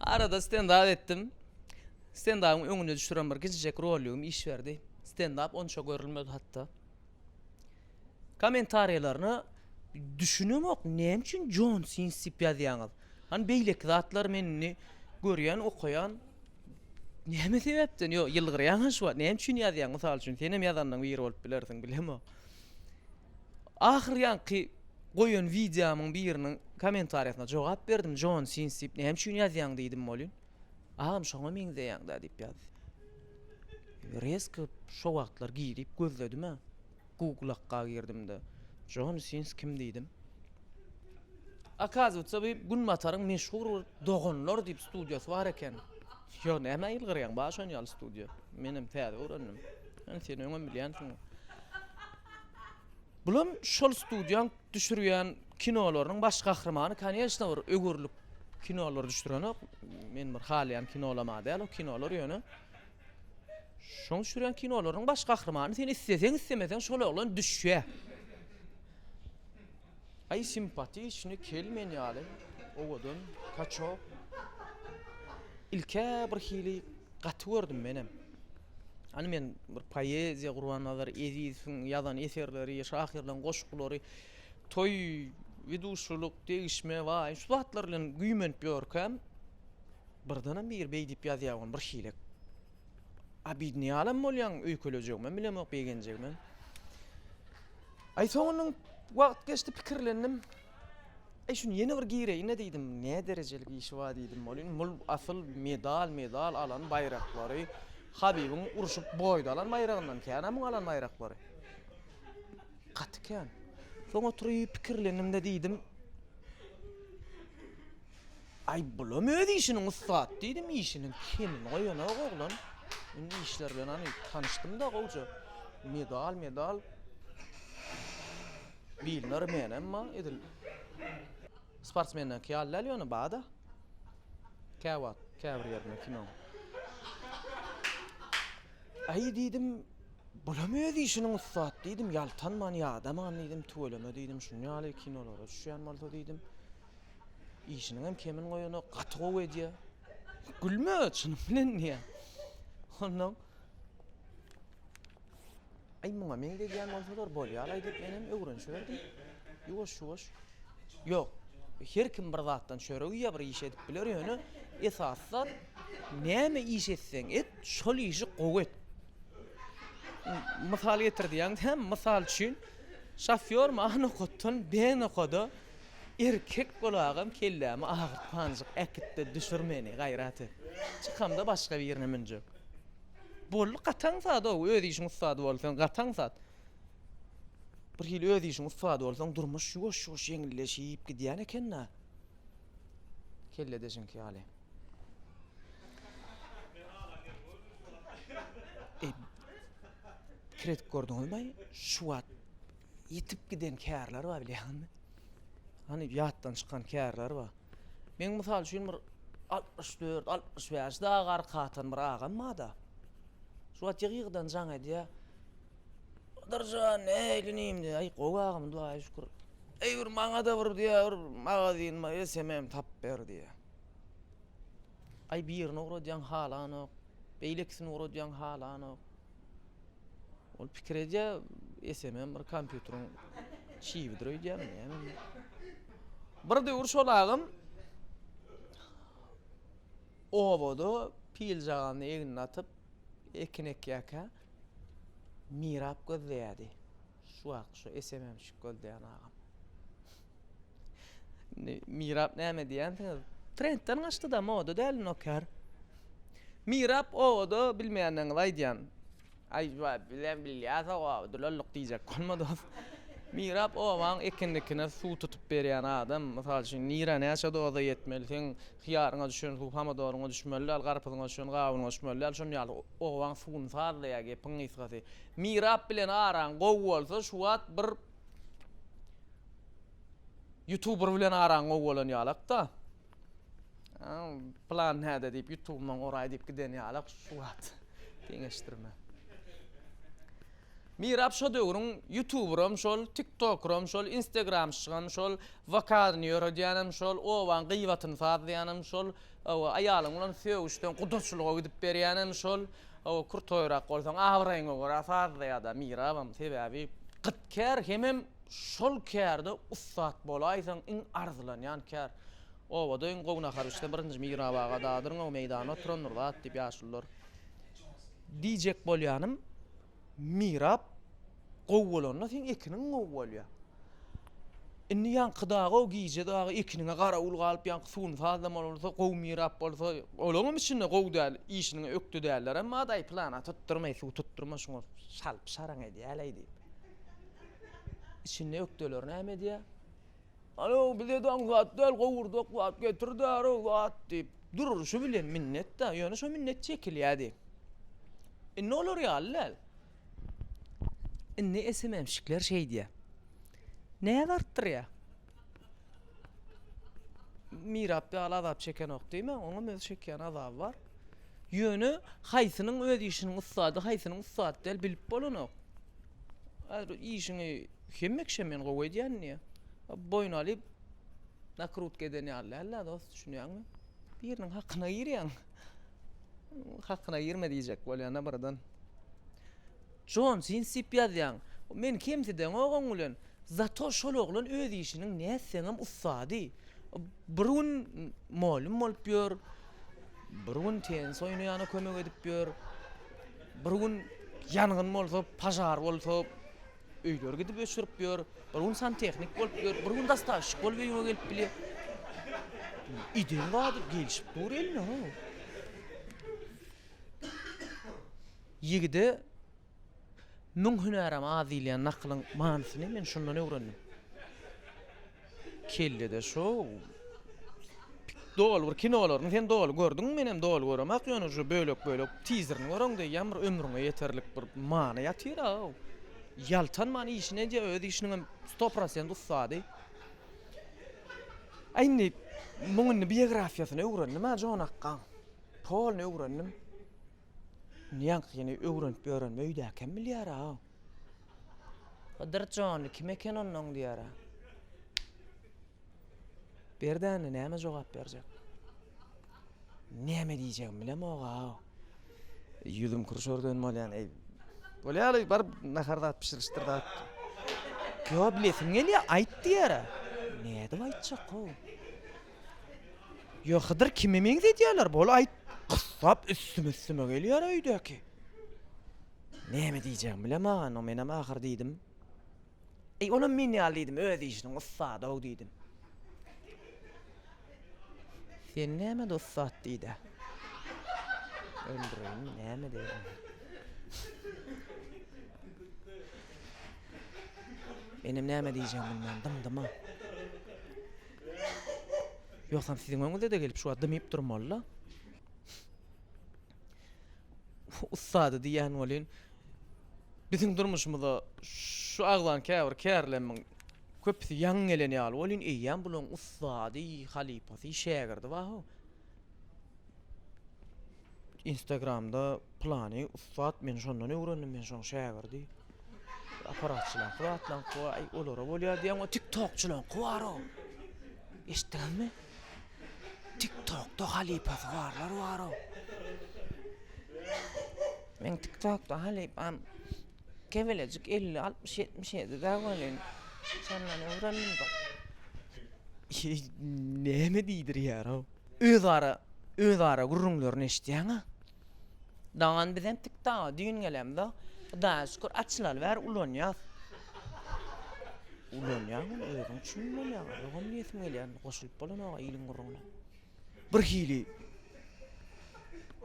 Arada stendap etdim. Stendabyň öňüne düşüren bir gijijek rolýum iş berdi. Stendap onça görülmedi hatda. Kommentariýalaryna düşünemok, näme üçin Jon Sins diýip ýazýaňyz? Hani beýleki zatlar men indi görýän, okaýan, Näme sebäpden? Ýok, ýylgyrýaň-a şu wagt. Näme üçin ýazýaň? Mysal üçin, senem ýazanlaryň biri bolup bilersiň, bilemok. Ahyr ýaňky goýan wideomyň biriniň kommentariýasyna jogap berdim, Jon Sins diýip, näme üçin ýazýaň diýdim welin, Agam şoňa meňzeýäň-dä diýip ýazdy. Rezko şo wagtlar girip gözledim-ä. Google-akga girdim-de, Jon Sins kim diýdim. Okazywatsa bu Günbataryň meşhur bir Doganlar diýip studiýasy bar eken. Ýo, nämä ýylgyrýaň, bar şon ýaly studiýa. Menem täze öwrendim. Ýöne sen öňem bilýänsiň. Bulam şol studiýaň düşürýän kinolarynyň baş gahrymany, koneçna, bir öwürlik kinolar düşürenok. Men bir halaýan kinolama däl o kinolar ýöne. Şoň düşürýän kinolaryň baş gahrymany sen isleseň islemeseň şol oglan düşýä. Aý simpatiçny kel men ýaly owadan kaçok. Ilkä bir hili gaty gördüm menem. Hany men bir poeziýa Gurbannazar Ezizowyň ýazan eserleri, şahyrlaryň goşgulary, toý, widuşulyk, degişme, waý, şu zatlar bilen güýmenip ýörkäm, Birdenem biri beý diýip ýazýar ony bir şiilek. Abidni ýalam bolýaň öýkelejegimem bilemok begenjegimem. Aý soňundan wagt geçdi pikirlendim. Aý şuny ýene bir gireýin diýdim. Ne derejeli giyişi bar diýdim. Bolin bul asyl medal medal alan baýraklary Habibiň urşup boýda alan baýragyndan kän muň alan baýraklary. Gaty kän. Soň oturyp pikirlendim-de diýdim. Aý, bulam öz işiniň ussat, diýdim. Işiniň kemini goýanok oglan. Indi işler bilen hany tanyşdym-da gowja. Medal, medal. Bilner men, emma edil sportsmenlerki ýaly däl ýöne bar-da. Käwagt, käbir ýerinde kinoň. Aý, diýdim, bulam öz işiniň ussat, diýdim. Ýaltanman, ýadaman, diýdim. Tüweleme, diýdim, şuny ýaly kinolara düşýän bolsa, diýdim. Işiniňem kemini goýanok, gaty gowy edýär. Gülme, çynym bilen diýýär. Ondan Aý muňa meňzedýän bolsalar bolýar-laý diýip menem öwrenişiberdim. Ýuwaş-ýuwaş. Ýok, her kim bir zatdan çörek iýýär, bir iş edip biler, ýöne esasy zat näme iş etseň et, şol işi gowy et. Mysal getir diýýäňdä, mysal üçin, şofýor maňa nokatdan B nokada Erkek bolagam kellämi agyrtmanjyk äkitde düşür meni gaýrat et. Çykamda başga birine münjek. Boldy gataň zat ow öz işiň ussady bolsaň gataň zat. Bir hili öz işiň ussady bolsaň durmuş ýuwaş ýuwaş ýeňilleşip gidýän ekenda. Kelledeşiňki ýaly. Kredit gördüňizmi şu wagt Ýitip giden kärler bar bilýäňmi? Hany ýatdan çykan kärler bar. Meň mysal üçin bir altmyş dört, altmyş bäş dagy arka atan bir agam barda. Şu wagt ýygy-ýygydan jaň edýär. Dyrjan, eý inim diýýär, eý gowy agam Hudaýa şükür. Eý bir maňa-da bir diýýär, bir magazin bar, SMM tapyp ber diýýär. Aý birini ugradýaň halanok, beýlekisini ugradýaň halanok. Ol pikir edýär, esemem bir kompýuteriň çibidir öýdýän, näme. Bir döwür şol agam obada pil jaganyny egnine atyp, ekin ekýärkä mirap gözleýärdi. Şu wagt şu esemem şük gözleýän agam. Indi Mirap näme diýýänsiňiz? Trendden gaçdyda moda däl Noker. Mirap owada bilmeýänleňizi aýdýan. Aý joa bizem bilýäs owaby dulalluk diýjek bolma dos. Mirap owaň ekinlikine suw tutup berýän adam. Mysal üçin nira näçe doza ýetmeli seň hyýaryňa düşen suw hamodoryňa düşmeli däl garpyzyňa düşen gawunyňa düşmeli däl şon ýaly owaň suwuny sazlaýar gepiň gysgasy. Mirap bilen araň gowy bolsa şu wagt bir Youtuber bilen araň gowy bolan ýalakda. Plan näde diýip Youtube'dan oraý diýip giden ýalak şu wagt deňeşdirme. Mirap şo döwrüň Youtube'ram şol, TikTok'ram şol, Instagram'şygam şol, vokalny ýöredýänem şol, obaň gyýbatyny sazlaýanym şol, aýalyň bilen sögüşden gudaçylyga gidip berýänem şol. Hawa, kürtoýrak bolsaň, abraýyňa görä sazla ýa-da mirabam. Sebäbi gyt kär, hemem şol kärde ussat bolaýsaň, iň arzylanýan kär. Obada iň gowy nahar bişse, birinji Mirap aga dadyryň-ow, meýdanda oturandyr zat, diýip, ýaşulular. Diýjek bolýanym, Mirap, Gowy bolanda seň ekiniň gowy bolýar. Indi ýaňky dagy-ow gije dagy ekiniňe garawul galyp ýaňky suwuny sazlamaly bolsa gowy mirap bolsa olaňam içinde gowy däl işiniňe ökde däller emma daýy plana tutdurmaý suw tutdurma şuňa salyp şaraň edýäleý diýip. Içinde ökdeler näme edýär? Alo, bize daň zat däl, gowurdok zat getirdarys zat diýip, durluşy bilen minnet-de, ýöne şo minnet çekilýärdi. Indi olar ýaly däl. Indi SMM-şikler şeýdýär. Näz artdyrýar. Mirap ýaly azap çekenok diýmäň, oňam öz çekýän azaby bar. Ýöne haýsynyň öz işiniň ussady, haýsynyň ussat däl bilip bolanok. Häzir işiňi hemme kişä men gowy edýän diýýär. Boýun alyp nakrutka eden ýaly däl-dä dost, düşünýäňmi? Biriniň hakyna girýäň. Hakyna girme diýjek bolýan-a birden. Jon Sin Sip ýazýaň. Meni kemsideňok oň bilen. Zato şol oglan öz işiniň nätseňem ussady. Bir gün molym bolup ýör, bir gün tenis oýnaýana kömek edip ýör. Bir gün ýangyn bolsa, požar bolsa, öýleri gidip öçürip ýör. Bir gün santehnik bolup ýör, bir gün dostavşik bolup öýüňe gelip bilýär. Ideg zady gelşip dur eline ho. Ýigide Müň hünärem az diýilýän nakylyň manysyny men şundan öwrendim. Kellede şou doly bir kinolaryny sen doly gördüňmi menem doly göremak ýöne şu bölek bölek tizerini göreň diýýän bir ömrüňe ýeterlik bir many ýatyr a ýaltanman işini edýä öz işiniňem sto prosent ussady a indi muň indi biografiýasyny öwrendim a jon akgaň polny öwrendim indi ýaňkyny öwrenip ýörenimi öýdäkem bilýär a. Hydyr jon, kim eken onda oň diýara? Berdi indi näme jogap berjek? Näme diýjegimi bilemog-aw. Ýüzüm kürşergen bolýan, eý. Bolýaly, baryp nahar zat bişirişdir zat. Ýo, bilesim gelýär, aýt diýara. Nädip aýtjak-ow? Ýo, Hydyr kime meňzedýärler? Bol aýt. Gyssap üstüme-üstüme gelýär öýdäki. Näme diýjegimi bilem agano menem ahyr diýdim. Eý, olam men ýaly diýdim, öz işiniň ussady-ow diýdim. Sen nämede ussat diýdi. Öldüreýinmi, näme edeýin? Menem näme diýjegimi bilmän dymdyma. Ýogsam siziň öňüňize-de gelip şu wagt dymyp durmaly-la. ussady diýýän welin, biziň durmuşymyza şu agzan käbir kärlerimiň köpüsi ýaňy gelen ýaly welin, eýýäm bularyň ussady, halypasy, şägirdi bar-how. Instagramda pylany ussat, men şondan öwrendim, men şonuň şägirdi. Aparatçylaňky batlaňky baý, olara bolýar diýýäň, o tiktokçylaňky bar-ow. Eşitdiňizmi? Tiktokda halypasy barlar bar-ow. Meň tiktokda halypam kebelejik 50-60-77-de welin, şondan öwrendim-de. Näme diýdirýär-ow? Özara, özara gürrüňlerini eşidýäň-a. Daňan bizem tik daga düýn gelemza Hudaýa şükür açylaly bäri ulanýas. Ulanýaň ony özüň üçin bolýar ýogam diýesim gelýär indi goşulyp bolanok iliň gürrüňine. Bir hili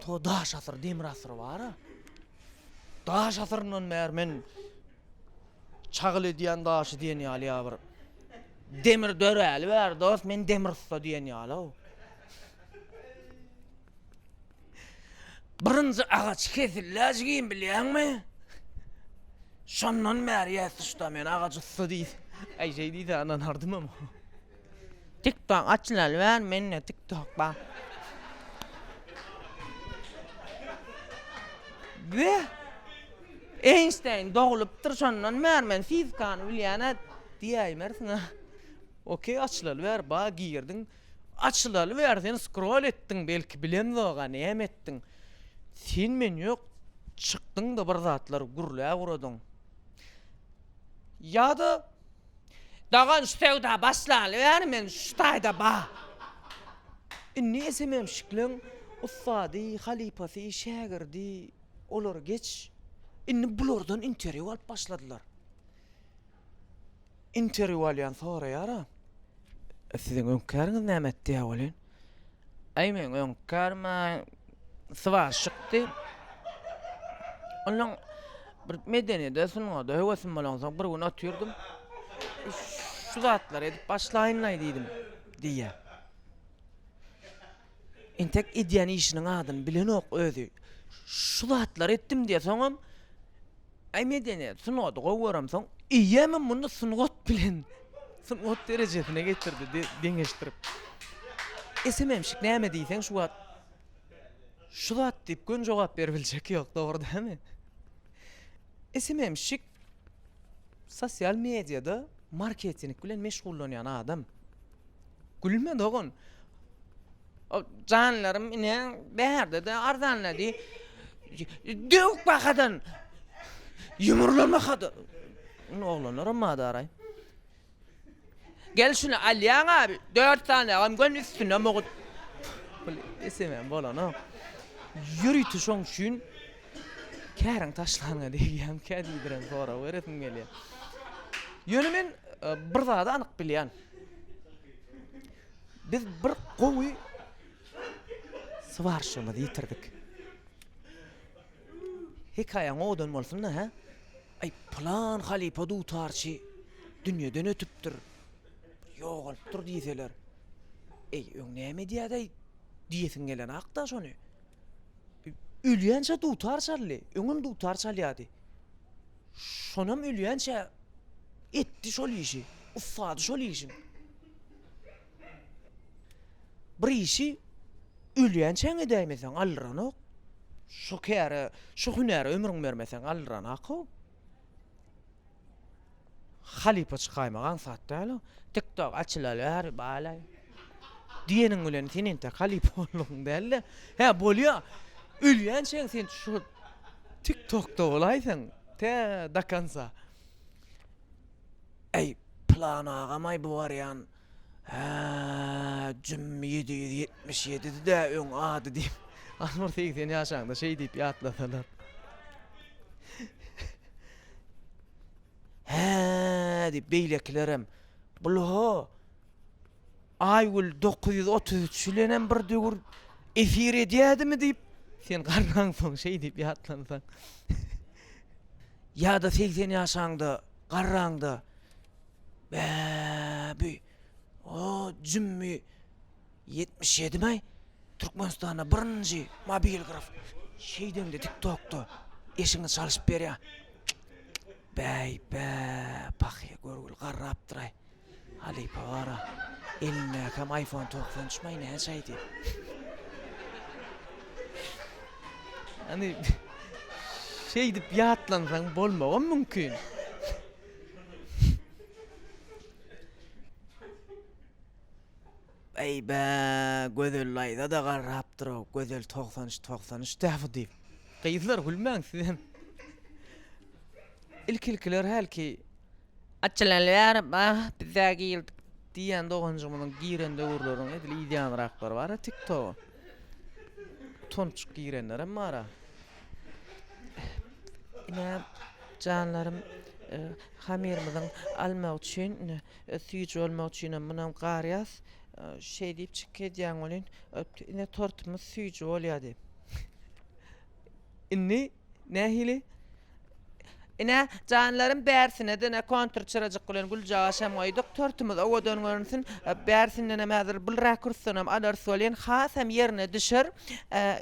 to daş asyr demir asyr bara. Daş asyryndan bäri men çagyl edýän daşy diýen ýaly ýa bir demir döräli bäri dos men demir ussa diýen ýalyw. Birinji agaç kesilläj kim bilýäňmi? Şondan bäri ýäs usta men agaç usta diýip. Aý şeý diýsä ynanardymam. Tiktok açylaly bäri mende tiktok bar. We Eýnşteýn doglupdyr şondan bäri men fizikany bilýän-ä diýäýmersiň-ä. Okey açylaly bäri bar girdiň Açylaly bäri sen skrol etdiň belki bilemzoga näme etdiň sen men ýok çykdyňda bir zatlar gürläp uradyň ýada Dogan şu söwda başlaly bäri men şu taýda ba indi esemem şikleň ussady halypasy şägirdi olar geç indi bulardan interwýu alyp başladylar Interwýu alýan soraýar-a. Siziň öňki äriňiz näme etdi ýa welin? Aý meň öňki kärim-ä swarşykdy. Onuň bir medeniýede, sungada höwesim bolansoň bir gün otyrdym. Şu zatlary edip başlaýyn-laý diýdim diýýär. Entek edýän işiniň adyny bilenok özi. Şu zatlary etdim diýýär. Soňam Aý medeniýet, sungaty gowy göremsoň, eýýämem muny sungat bilen, sungat derejesine getirdi de, deňeşdirip. Esememşik näme diýseň şu wagt şu zat diýip göni jogap berip biljek ýok, dogry dälmi? Esememşik sosial mediýada marketing bilen meşgullanýan adam. Gülme dogan. O janlarym ine bärde de arzanlady. Döwük bakadan. Ýumurlama hada. Ony oglanlaram madaraý. Gel şuny alýaň abi. 4 sany agam gön üstüne mugut. Esemem bolanok. Ýörite şoň üçin käriň taşlaňa diýýän, kädibiren sorag beresim gelýär. Ýöne men e, bir zady anyk bilýän. Biz bir gowy swarşymyzy ýitirdik. Hekaýaň owadan bolsun-da, hä? Aý, pylan halypa dutarçy dünýeden ötüpdir, ýogalypdyr diýseler. Eý, öň näme edýädäý diýesiň gelenok-da şony. Ölýänçä dutar çaldy, öňem dutar çalýardy. Şonam ölýänçä etdi şol işi, ussady şol işiň. Bir işi ölýänçäň edäýmeseň galdyranok. Şu käre, şu hünäre ömrüň bermeseň galdyranok-ow. Halypa çykaýmak aňsat däl-ow. Tiktok açylaly bäri balaý. Diýeniň bilen sen entek halypalygyn däl-de. Hä, bolýa. Ölýänçäň sen şu Tik Tokda bolaýsaň, tä do konca. Äý, Pylan agam-aý bu barýan, hä, jüm ýedi ýüz ýetmiş ýedidi-dä öň ady diýip, az bir segsen ýaşaňda şeý diýip ýatlasalar. Hä, diýip, beýlekilerem, Bul-ho, Aýgül dokuz ýüz otuz üç bilenem bir döwür efir edýädimi diýip, sen garransoň şeý diýip ýatlansaň. Ýa-da segsen ýaşaňda, garraňda bä bi o jümmi ýetmiş ýedimi Türkmenistanda birinji mobil graf şeýdende tiktokda eşigiňi çalyşyp berýär. Bäý bä pahýa görgül garrapdyraý. Halypa gara, elindäkäm iPhone togsan üç maý näçäýdi? Ýagny şeýdip ýatlansaň bolmagam mümkin. Beýbä, Gözel daýza-da garrapdyr-ow, Gözel togsan üç, togsan üç dä bu diýip. Gyzlar gülmäň sizem. Ilki-ilkiler hälki Açylaly bäri bah bizä girdik diýýän doganjygymyzyň giren döwürleriň edil ýanraklary bara tiktoga. Tonçuk girenlerem bara. Ine janlarym e, hamyrymyzyň almak üçin, e, süýji bolmak üçinem munam garýas. E, şeý diýip çyk edýän welin, e, ine tortumyz süýji bolýa diýip. Indi nähili? Ine, janlarym, bärsine-de kontur çyrajyk bilen güljagaş hem goýduk. Tortumyz owadan görünsin. Bärsindenem häzir bylrak kürsünem alarys welin, hasam ýerine düşer.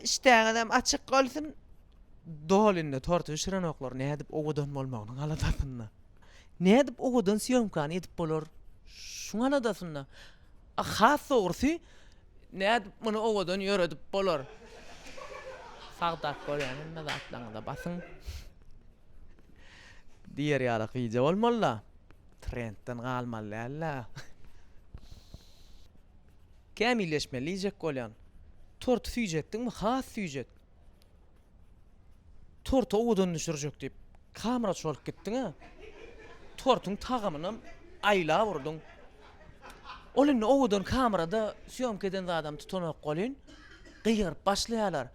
Işdäňizem açyk bolsun. Doly indi torty bişirenoklar nädip owadan bolmagynyň aladasynda. Nädip owadan sýomkany edip bolar, şuň aladasynda. Has dogrusy, nädip muny owadan ýöredip bolar? Sagdap görýän hemme zatlaryňyza basyň! Diýer ýaly gija bolmaly-da. Trendden galmaly däl-le. Kämilleşmeli diýjek bolýan. Torty süýjetdiňmi? Has süýjet. Torty owadan düşürjek diýip, kamera çorup gitdiň-ä. Tortuň tagamynam aýlap urduň. Ol indi owadan kamerada sýomka eden zadam tutanok welin, gygyryp başlaýarlar.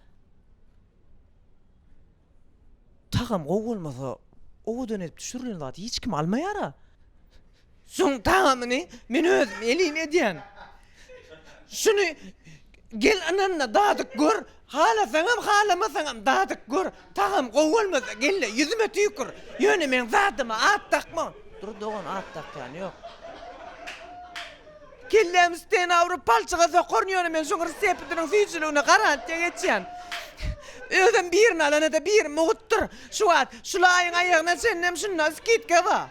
Tagam gowy bolmasa, owadan edip düşürilen zady hiç kim almaýar-a. Şoň tagamyny men özüm elin edýän. Şuny gel ynanda dadyp gör, halasaňam halamasaňam dadyp gör, tagam gowy bolmasa gelle ýüzüme tüýkür, ýöne meň zadyma at dakma. Dur dogan at dakýan ýok. Kellämi stena urup palçyga sokaryn ýöne men şuň rsseptiniň süýjüligine garantiýa geçýän. Özem birini alana-da biri mugutdyr. Şu wagt şulaýyň aýagyna çenlem şunda skitka bar.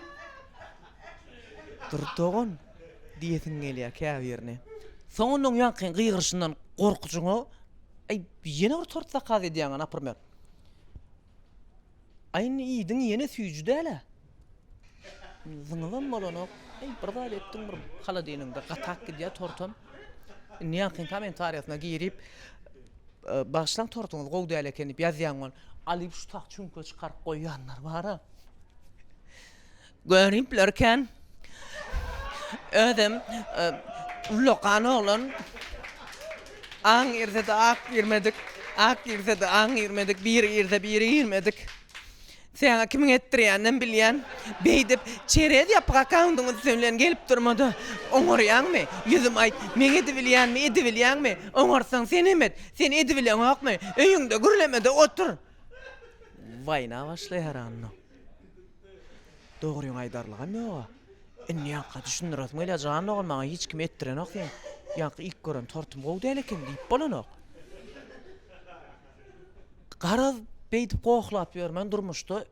Dur dogan! diýesiň gelýär käbirine. Soň onuň ýaňky gygyryşyndan gorkujyňa, Aý, ýene bir tort zakaz edýäňä napyrmer. Aý, indi iýdiň ýene süýji däl-ä. Zyňybam bolanok. Aý, bir zat etdiň bir holodilnigiňde gatap gidýär tortam. Indi ýaňkyň kommentariýasyna girip, Bagyşlaň tortuňyz gowy däl eken diýip ýazýaň ol. Alyp şu tak çüňke çykaryp goýýanlar bar-a. Görüpler kän. Özem ullakan oglan. Aň girse-de ak girmedik. Ak girse-de aň girmedik. Biri girse biri girmedik. Säňe kimiň etdirýäninem bilýän. Beýdip çerez ýapyk akkaundyň üsti bilen gelip durma-da. Oňarýaňmy? Ýüzüme aýt, meň edibilýänmi, edibilýäňmi? Oňarsaň senem et. Sen edibileňokmy? Öýüňde gürleme-de otur. Waýna başlaýar onda. Dogryňy aýdarlygam ýoga. Indi ýaňka düşündiresim gelýär. Jan dogan maňa hiç kim etdirenok sen. Ýaňky ilk gören tortum gowy däl eken diýip bolanok. Garaz beýdip gohlap ýörmän durmuşda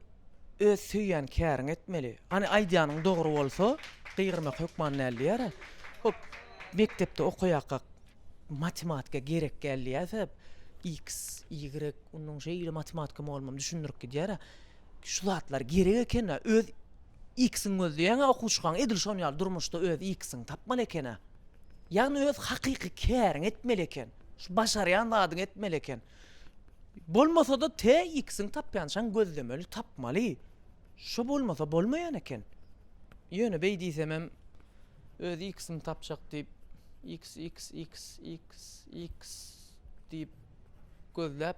öz söýýän käriňi etmeli. Hany aýdýanyň dogry bolsa gygyrmak hökman däl diýär-ä. Hop mekdepde okaýakak matematika gerek däl diýýärse, x, y, onuň şeýle matematika mugallymym düşündirip gidýär-ä. Şu zatlar gerek ekena öz X-iň gözleýäňä okuwçykaň edil şon ýaly durmuşda öz X-iň tapmaly ekena. Ýagny öz hakyky käriň etmeli eken. Şu başarýan zadyň etmeli eken. Bolmasada te X-iň tapýançaň gözlemeli tapmaly. Şo bolmasa bolmaýan eken. Ýöne beý diýsemem öz X-iň tapjak diýip X X X X X diýip gözläp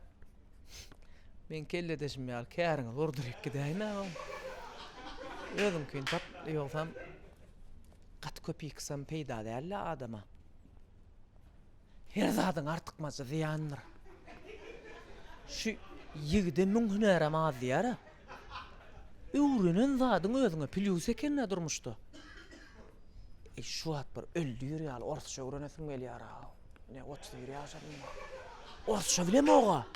Men kelledeşim ýaly käriňizi urduryp gidäýin agam. Özüňkini tap, ýogsam gaty köp ýyksam peýda däl-le adama. Her zadyň artykmajy zyýandyr. Şu ýigide müň hünärem az diýýär-ä. Öwrenen zadyň özüňe plýus eken-ä durmuşda. Şu wagt bir öldür ýaly orsça öwrenesim gelýär-a. Ine, otuz bir ýaşadym bar. Orsça bilemog-a.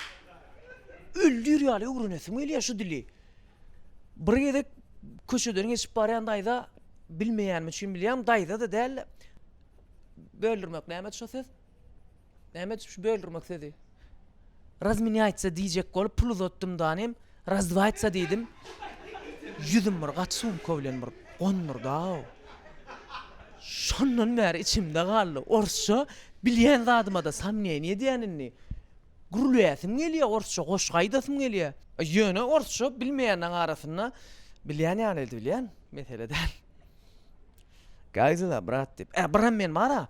Öldür ýaly öwrenesim gelýär şu dili. Bir gezek köçeden geçip barýan daýza bilmeýänim üçin bilýän daýza-da däl-de. Böldürmek näme şo söz? Näme üçin şu böldürmek sözi? Razmenýaýtsa diýjek bolup pul uzatdym danym, razdwaýtsa diýdim. Ýüzüm bir gaty sumka bilen bir gondurdy-aw. Şondan bäri içimde galdy. Orsça bilýän zadyma-da samneniýe edýän indi. Gürleýäsim gelýär, orsça goşgy aýdasym gelýär. Ýöne orsça bilmeýänleriň arasynda bilýän ýaly edip bilýän, mesele däl. Gaýzyla, brat diýip. Ä, biram men bar-a.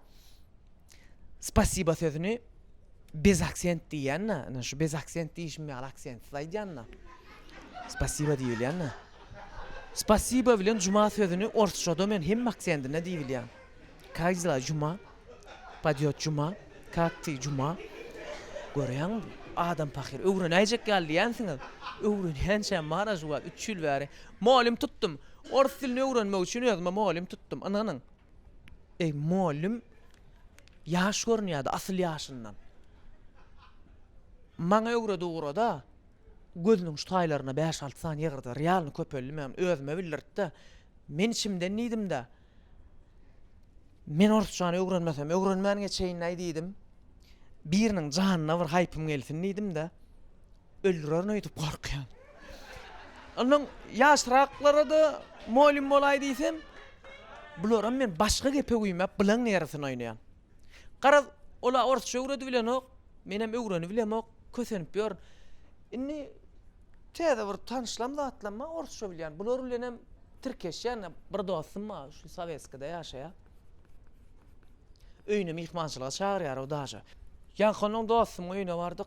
Spasiba sözüni bez aksent diýýän-dä. Ine, şu bez aksent diýişim ýaly aksentsiz aýdýan-da. Spasiba diýilýän-dä. Spasiba bilen juma sözüni orsçada men hemme aksendinde diýip bilýän. Kak dela juma? Padýot juma? Kak ty juma? Görýäňmi? Adam pahyr, öwrenäýjek ýaly diýýänsiňiz. Öwrenýänçäm bar-a şu wagt, üç ýyl bäri. Mugallym tutdum. Ors dilini öwrenmek üçin özüme mugallym tutdum. Ynanyň. Eý, mugallym ýaş görünýär-de, asyl ýaşyndan. Maňa öwred-ugra-da, gözüniň şu taýlaryna bäş-alty sany ýygyrdy, realny köpeldi, men ony özüme bildirtdi. Men içimden diýdim-de, Men orsçany öwrenmesem, öwrenmän geçeýin-aý diýdim. Biriniň janyna bir haýpym gelsin diýdim-de, Öldürerin öýdüp gorkýan. Ondan ýaşraklara-da mugallym bolaý diýsem, bularam men başga gepe güýmäp, bulaň ýerisin oýnaýan. Garaz, ol-a orsça öwredibilenok, menem öwrenibilemok, kösenip ýörün. Indi täze bir tanyşlam zatlamma orsça bilýän. Bular bilenem tirkeşýän, bir dostum bar, şu Sowetskide ýaşaýar. Öýüne myhmançylyga çagyrýar o daže. Ýaňky onuň dostumyň öýüne bardyk.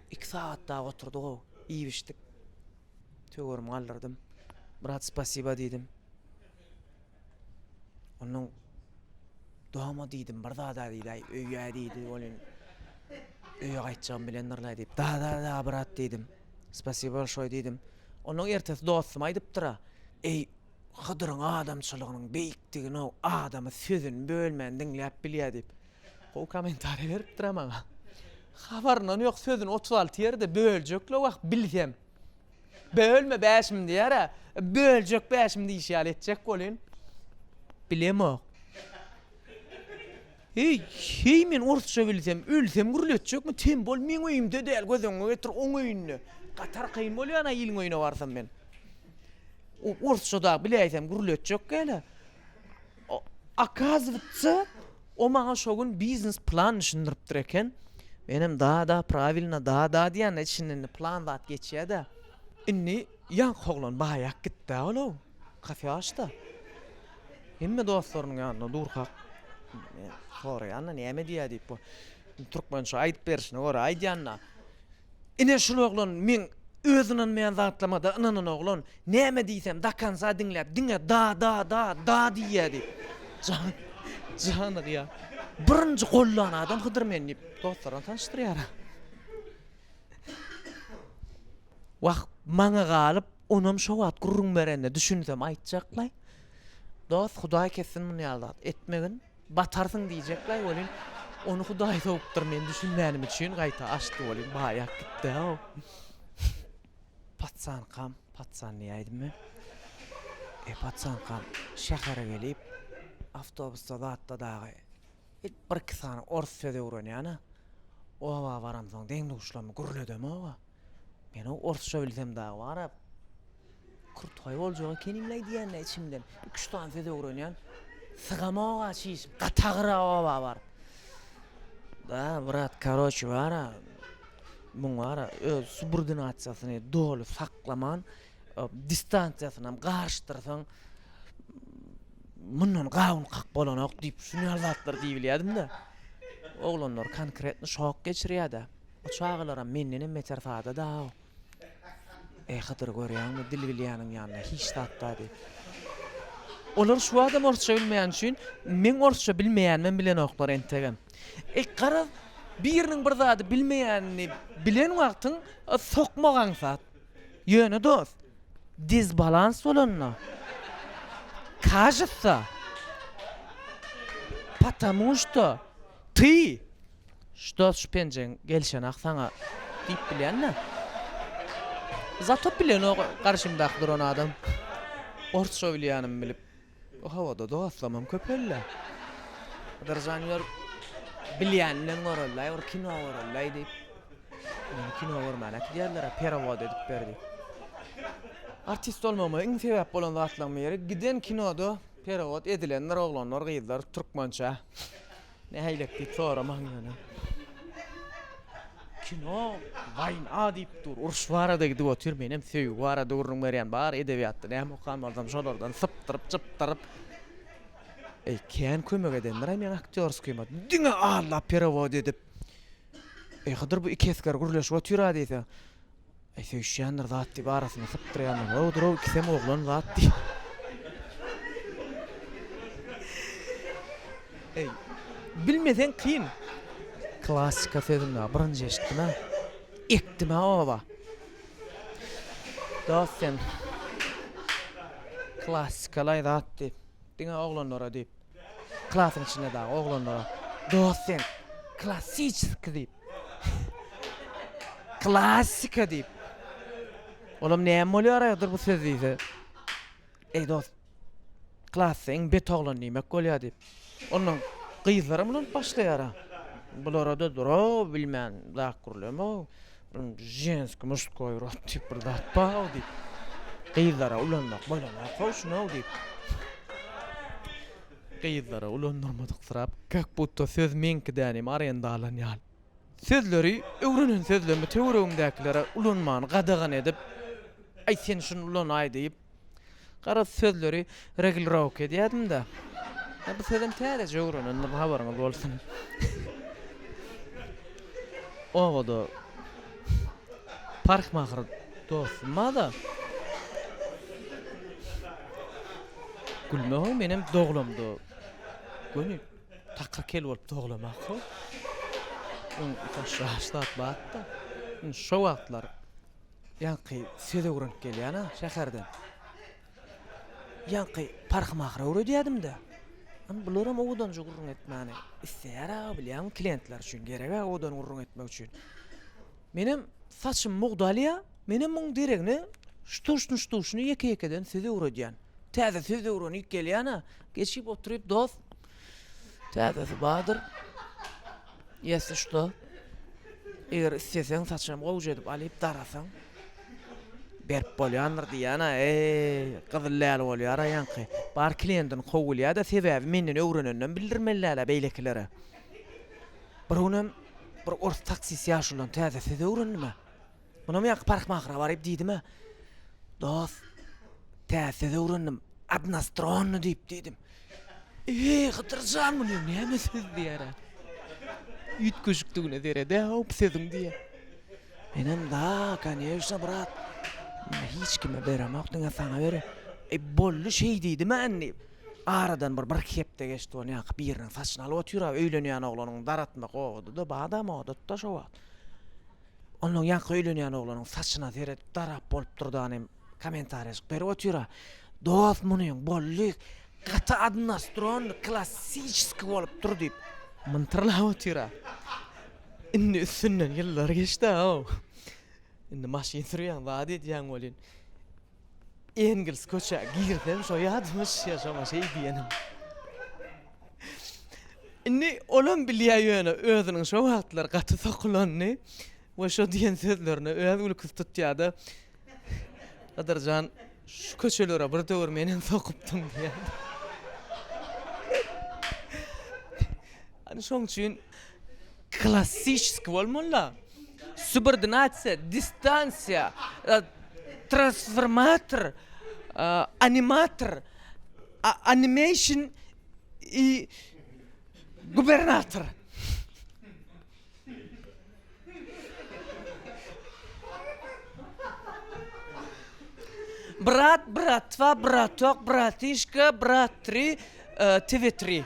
Iki sagat dagy oturdyk-ow, iýip-içdik. Töwerimi galdyrdym. Brat, spasiba diýdim. Onnoň Doma diýdim, bir zad-a diýdi-aý, öýe diýdi, welin, öýe gaýtjagym bilendirlaý diýip, da-da-da, brat diýdim. Spasiba bolşoý diýdim. Onnoň ertesi dostum aýdypdyr-a, Eý, Hydyryň adamçylygynyň beýikdigini-ow, adamy sözüni bölmän diňläp bilýä diýip. Gowy komentariýa beripdir a maňa. Habaryndan ýok sözüni otuz alty ýerde böljekle wah bilsem. Bölme bäşim diýer a. Böljek bäşim diýşi ýaly etjek bolyn. Bilemok. Heý, heý men orsça bilsem, ölsem gürletjekmi? Tem bol, meň öýümde däl, göz öňüňe getir, oň öýünde. Gatar kyn bolýar ana iliň öýüne barsam men. O orsça da biläýsem gürletjek gäle. Okazywatsa, o maňa şo gün biznes plan düşündiripdir eken. Menem da-da, prawilno, da-da diýende içinden plan zat geçýä-dä. Indi ýaňky oglan baýak gitdi-ä ol-ow. Has ýaş-da. Hemme dostlarynyň ýanynda durkak. Soraýan-da, näme diýýä diýip bu. Türkmençe aýdyp berişine görä aýdýan-da. Ine şul oglan meň öz ynanmaýan zatlamada ynanan oglan, näme diýsem dakanca diňläp diňe da da da da diýýädi. Jany janygýa. Birinji gollan adam Hydyr men diýip dostlaryna tanyşdyrýar. Wah maňa galyp onam şo wagt gürrüň berende düşünsem aýtjaklaý. Dost hudaý kessin muny ýaly zat etmegin. Batarsyň diýjekläý welin, ony Hudaý sowupdyr, men düşünmänim üçin gaýta açdy welin, baýap gitdi-ow. Patsankam, patsan diýäýdim men. E, patsankam şähere gelip, awtobusda zatda dagy bir-iki sany orus sözi öwrenýän-ä. Oba baramsoň deň-duşlamy gürledem-ow-a. Menow orsça bilsem dagy barab kürtgaý boljak ekenim leý diýýän içimden. Iki-üç sany söz öwrenýän. Sygamog-a çiş, gatagyra oba baryp. Da, brat, karoç bar-a, muň bar-a öz subordinasiýasyny doly saklaman, distansiýasynam garyşdyrsaň, mundan gawun kak bolanok diýip, şuny ýaly zatlar diýip bilýärdim-de. Oglanlar konkretno şok geçirýär-de. Bu çagalaram mendenem beter sada daw. Eý Hydyr görýäňmi dil bilýäniň ýanynda hiç zat dady. Olar şu wagtam orsça bilmeýän üçin meň orsça bilmeýänimem bilenoklar entegem. E garaz biriniň bir zady bilmeýänini bilen wagtyň sokmak aňsat. Ýöne dost dezbalans bolanda kajutsa patamušto ty Şu dos şu penjeň gelşenak saňa diýip bilýän-dä. Zatop bilenok garşymdaky duran adam. Orsça bilýänimi bilip. Bu howada dostlamam köpeldi. Hydyrjan ýör bilýäninden görelidaý bir kino görelidaý diýip. Meni kino görmäne äkidýärler-ä perewod edip ber diýip. Artist bolmagyma iň sebäp bolan zatlaryň biri giden kinoda perewod edilendir oglanlar gyzlar türkmençe. Nähilek diýip soramaň ýöne. Kino, waýna diýip dur, uruş barada gidip otyr, menem söýgi barada gürrüň berýän, bar edebiýatda näme okan bolsam şolardan sypdyryp, çypdyryp. Eý, kän kömek edendir-aý meň aktýorskýyma, diňe Alla perewod edip. Eý, Hydyr bu iki esger gürleşip otyr-a diýse. Eý söýüşýändir zat diýip arasyny sypdyrýanlar bolupdyr-ow ikisem oglan zat diýip. Eý bilmeseň kyn. Klassika sözüni-ä birinji eşitdim-ä. Ekdim-ä oba. Dost sen klassika-laý zat diýip. Diňe oglanlara diýip. Klasyň içinde dagy oglanlara Dosent, klassiçeskiý diýip, Klassika diýip. Olam näme bolýar aýgydyr bu söz diýse. Eý dost, klasda iň bet oglan diýmek bolýar diýip. Onnoň gyzlaram ulanyp başlaýar-a. Bulara-da dur-ow, bilmän zat gürleme-ow. Ženskiý, muştkoý rod diýip bir zat bar-ow diýip. Gyzlara ulanmak bolanok-ow şuny-ow diýip. Gyzlara ulandyrmadyksyrap, kak budda söz meňki däl hem arenda alan ýaly. Sözleri, öwrenen sözlerimi töweregimdäkilere ulanmany gadagan edip, Aý sen şuny ulanaý diýip, Garaz sözleri reglirowka edýädim-de. Ýa bu sözem täzeje öwrenendim habaryňyz bolsun. Obada parhmahyr dostum bar-da. Gülme goý menem doglamda göni takyr kel bolup doglamakgo. Şo wagtlar Ýaňky söz öwrenip gelýän-ä şäherden. Ýaňky parhym ahyry öwredýädim-dä. Indi bularam owadanja gürrüň etmäni isleýär-ä, bilýäňmi, kliýentler üçin gerek-ä owadan gürrüň etmek üçin. Menem saçym mugdalýa, menem muň deregine ştuş-nuştuşyny ýeke-ýekeden söz öwredýän. Täze söz öwrenip gelýän-ä, geçip oturyp dost, Täzesi bardyr. Ýesi şuda. Eger isleseň saçam gowja edip alyp darasaň. Berip bolýandyr diýýän-ä. Eý, gyzyl läl bolýar-a ýaňky. Bar kliýentini kowulýa-da sebäbi menden öwrenenden bildirmeli läl-ä beýlekilere. Bir günem bir ors taksist ýaşulydan täze söz öwrendim-ä. Munam ýaňky parhmahra baryp diýdim-ä, Dost, tä söz öwrendim, Odnastronny diýip diýdim. Eý, Hydyr jan, muny näme söz diýer-ä? Üýtgeşikdigine sered-ä-ow bu sözüň diýýär. Menem, Da, konyewşna, brat, muny hiç kime beremok, diňe saňa bereýin. Eý, boldy, şeý diýdim-ä indi. Aradan bir bir-iki hepde geçdi, ony ýaňky biriniň saçyny alyp otyr-a, öýlenýän oglanyň daratmak owady-da, badam odat-da şo wagt. Onnoň ýaňky öýlenýän oglanyň saçyna seredip darap bolup durdan hem kommentariýajyk berip otyra. Dost munyň bolly gaty odnostronny klassiçeski bolupdyr diýip myntyrlap otyra. Indi üstünden ýyllar geçdi-aw. Indi maşyn sürýäň zat edýäň welin. Engels köçä girsem şo ýadymyş ýa şoňa şeý diýenim. Indi olam bilýär ýöne özüniň şo wagtlar gaty sokulanyny we şo diýen sözlerini öz gülküsi tutýada Gadyrjan şu köçelere bir döwür menem sokupdym diýýär. Şoň üçin Klassisiki bolmanda, subordinasiýa, distansiýa, transformator, animator, animeşn i gubernator. Brat, bratwa, bratok, bratişka, brat tri, tv tri.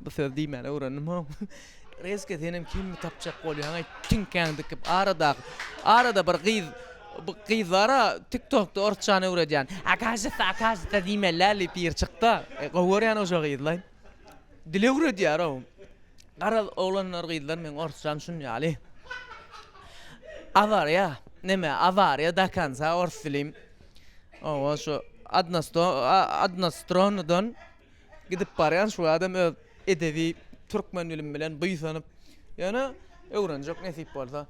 Bu söz diýmäni öwrendim haw. Rezke senem kimmi tapjak bolýaňaý tiňkäň dikip aradaky arada bir gyz bu gyz bara tiktokda orsçany öwredýän akajyta akajyta diýmelä lip ýer çykda e, gowy görýän oja gyzlaý dil öwredýär ow garaz oglanlar gyzlar meň orsçam şun ýaly awarýa neme awarýa da kansa ors dilim owa şu adnasto adnastronudan Gidip barýan şu adam öz edebi türkmen dilin bilen buýsanyp, ýöne öwrenjek nesip bolsa.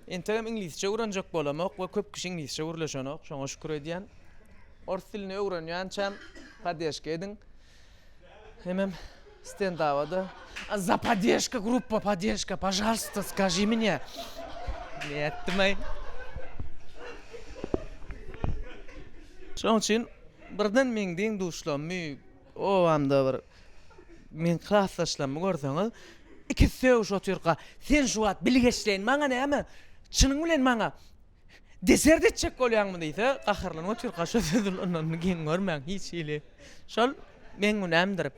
Entegem iňlisçe öwrenjek bolamok we köp kişi iňlisçe gürleşenok, şoňa şükür edýän. Ors dilini öwrenýänçäm padeşka ediň. Hemem stendaba-da Za padeşka gruppa padeşka, pažalsta skaži mine. Nätdim-aý. Şoň üçin Birden meň deň-duşlarymy, obamda bir meň klasdaşlarymy görseňiz, ikisi sögüşip otyrka, Sen şu wagt bilgeşleýin maňa näme? Çynyň bilen maňa desert etjek bolýaňmy? diýse, gaharlanyp otyrka şo söz ulanyny geň görmäň, hiç hili. Şol meň günämdir.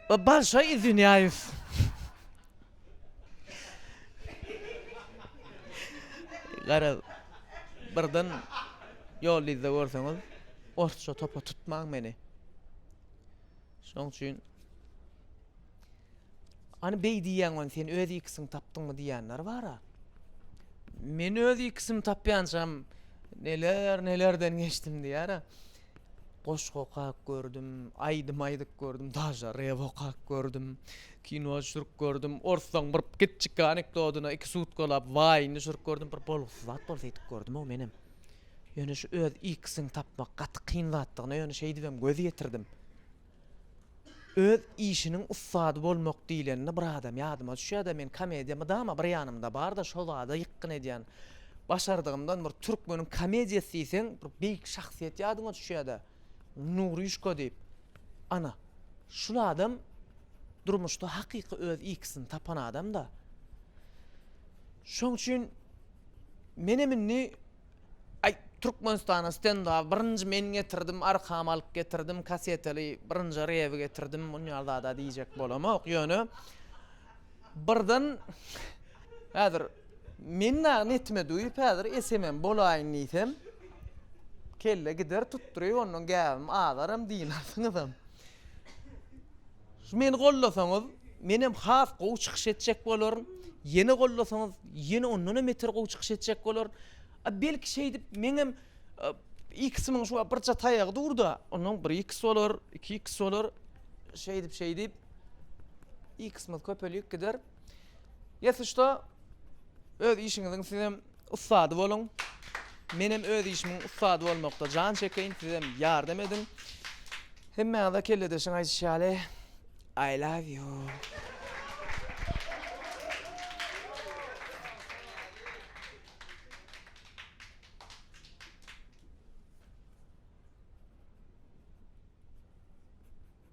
Bolşoý izwinýaýus. Gara birden ýol yzda görseňiz, orsça topa tutmaň meni. Şoň üçin Any beý diýýän ony sen öz ikisini tapdyňmy diýýänler bara. Men öz ikisini tapýançam neler nelerden geçdim diýýär. Goşgy okap gördüm, aýdym aýdyp gördüm, daža rep okap gördüm, kino düşürip gördüm, orslaň bir kiçjik anekdodyna iki sutkalap waýn düşürip gördüm, bir bolgusyz zat bolsa edip gördüm-ow menem. Ýöne şu öz ikisini tapmak gaty kyn zatdygyna ýöne şeýdibem göz ýetirdim. Öz işiniň ussady bolmak diýlende bir adam ýadyma düşýärde men komediýa mydama bir ýanymda barda şo zada ýykgyn edýän başardygymdan bir türkmeniň komediýasy diýseň bir beýik şahsyýet ýadyňa düşýärde Nuryşka diýip ana şul adam durmuşda hakyky öz ikisini tapan adamda şoň üçin menem indi Aý Türkmenistana stendaby birinji men getirdim arkam alyp getirdim kaseteli birinji rebi getirdim bunýar zada diýjek bolamok ýöne birden häzir men dagy netime duýup häzir SMM bolaýyn diýsem kelle gider tutduryp ondan gäbim azaram diýmersiňizem. Meni gollasaňyz, menem has gowy çykyş etjek bolaryn. Ýene gollasaňyz, ýene ondan hem beter gowy çykyş etjek bolaryn. A belki şeýdip meňem X-iň şu birje taýagy dur-da, ondan bir X bolar, iki X bolar. Şeýdip, şeýdip X-imiz köpelip gider. Ýa-da öz işiňiziň sizem Ussady boluň. Menem öz işimiň ussady bolmakda jan çekeýin, sizem ýardam ediň. Hemmäňize kelledeşiň aýdyşy ýaly, I love you.